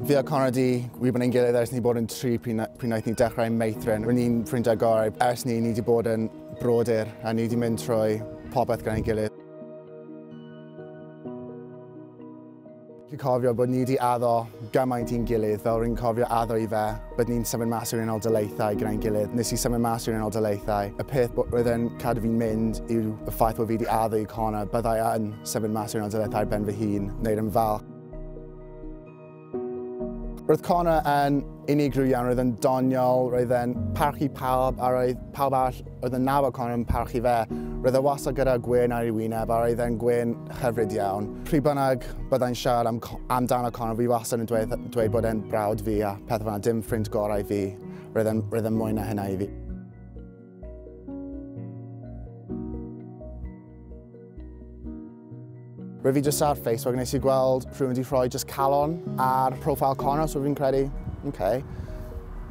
Fi a Connor di wybod ein gilydd ers ni bod yn tri pryd wnaeth ni dechrau meithrin. Rwy'n ni'n ffrindiau gorau ers ni, ni di bod yn brodyr a ni di mynd trwy popeth gan ein gilydd. Fi'n cofio bod ni wedi addo gymaint i'n gilydd, fel rwy'n cofio addo i fe, bod ni'n symud mas i'r unol daleithau gyda'n gilydd. Nes i symud mas i'r unol daleithau, y peth oedd yn cadw fi'n mynd yw y ffaith bod fi wedi addo i Connor, byddai yn symud mas i'r unol daleithau ben fy hun, neu'r yn falch. Roedd Connor yn unigryw iawn, roedd yn doniol, roedd e'n parchu pawb a roedd pawb arall oedd yn nabod Connor yn parchu fe. Roedd e wastad gyda gwyn ar ei wyneb a roedd e'n gwyn hyfryd iawn. Pryd bynnag byddai'n siarad am, amdano Connor, fi wastad yn dweud, dweud bod e'n brawd fi a pethau fanna, dim ffrind gorau fi. Roedd e'n, roedd e'n mwy na hynna i fi. Rwyf fi jyst ar Facebook nes i gweld rhywun wedi rhoi jyst calon ar profile Connor, so fi'n credu, okay.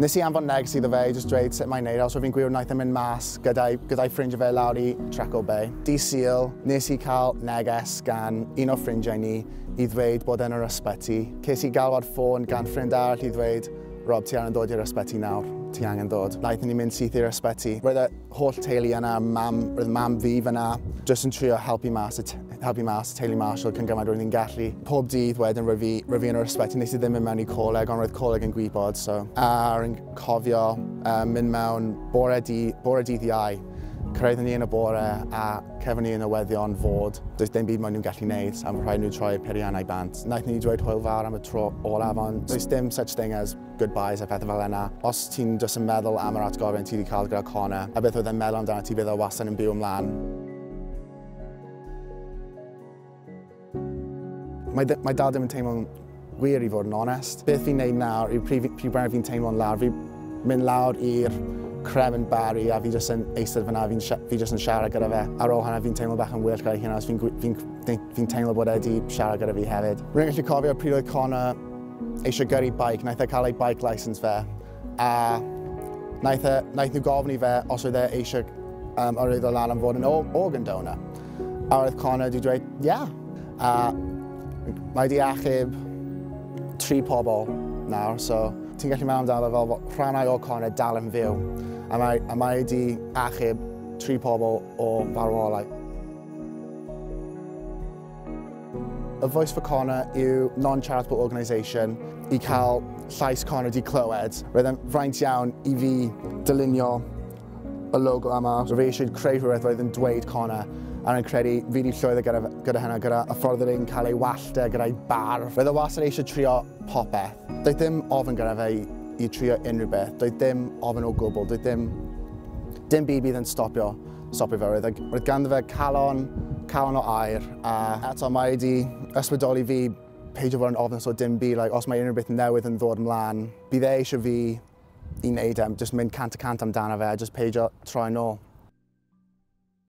Nes i anfon negs iddo fe i jyst dweud sut mae'n neud, so fi'n gwir wnaeth yn mynd mas gyda'i, gyda ffrindiau fe lawr i Treco Bay. Di Sil, nes i cael neges gan un o ffrindiau ni i ddweud bod e'n yr ysbyty. Ces i galwad ffôn gan ffrind arall i ddweud Rob, ti angen dod i'r ysbyty nawr. Ti angen dod. Naethon ni mynd syth i'r ysbyty. Roedd y holl teulu yna, mam, roedd mam fi fyna, jyst yn trio helpu mas, helpu mas y teulu Marshall cyn gymaint roedd ni'n gallu. Pob dydd wedyn roedd fi, roedd fi yn yr ysbyty, nes i ddim mynd mewn i coleg, ond roedd coleg yn gwybod, so. A rwy'n cofio uh, mynd mewn bore, di, bore dydd iau. Cyrraeddwn ni yn y bore a Cefn i y newyddion fod does dim byd maen nhw'n gallu wneud am rhaid nhw troi'r periannau bant. Naeth ni dweud hwyl fawr am y tro olaf ond does dim such thing as goodbyes a phethau fel yna. Os ti'n just yn meddwl am yr atgofion ti wedi cael gyda Connor a beth oedd e'n meddwl amdana ti bydd o wastad yn byw ymlaen. Mae, mae dad ddim yn teimlo'n wir i fod yn onest. Beth fi'n neud nawr yw pryd, pryd bynnag fi'n teimlo'n lawr, fi mynd lawr i'r crem yn bari a fi jyst yn eistedd fyna, fi, fi jyst yn siarad gyda fe. Ar ôl hynna fi'n teimlo bach yn well gyda'i hynna, fi'n fi, fi, fi teimlo bod e wedi siarad gyda fi hefyd. Rwy'n gallu cofio pryd oedd Connor eisiau gyrru bike, naeth e cael ei bike license fe. A naeth, e, naeth nhw gofyn i fe os oedd e eisiau um, arwyddo lan am fod yn organ donor. A oedd Connor wedi dweud, ia. Yeah. A mae wedi achub tri pobl nawr, so ti'n gallu meddwl amdano fel bod rhannau o Connor dal yn fyw. A mae, a mae wedi achub tri pobl o farwolau. A Voice for Connor yw non-charitable organisation i cael llais Connor di clywed. Roedd e'n fraint iawn i fi dylunio y logo yma. Roedd fi eisiau creu rhywbeth roedd yn dweud Connor a rwy'n credu fi wedi llwyddo gyda, gyda hynna, gyda y ffordd oedd e'n cael ei wallta gyda'i barf. Roedd e wastad eisiau trio popeth. Doedd dim ofyn gyda fe i, i trio unrhyw beth. Doedd dim ofyn o gwbl. Doedd dim, dim byd bydd yn stopio Stopio fe oedd, roedd ganddo fe calon, calon o air, a eto mae wedi ysbrydoli fi peidio fod yn ofnus o dim byd, like, os mae unrhyw beth newydd yn ddod ymlaen, bydd e eisiau fi i wneud e, just mynd cant y cant amdano fe, just peidio troi'n ôl.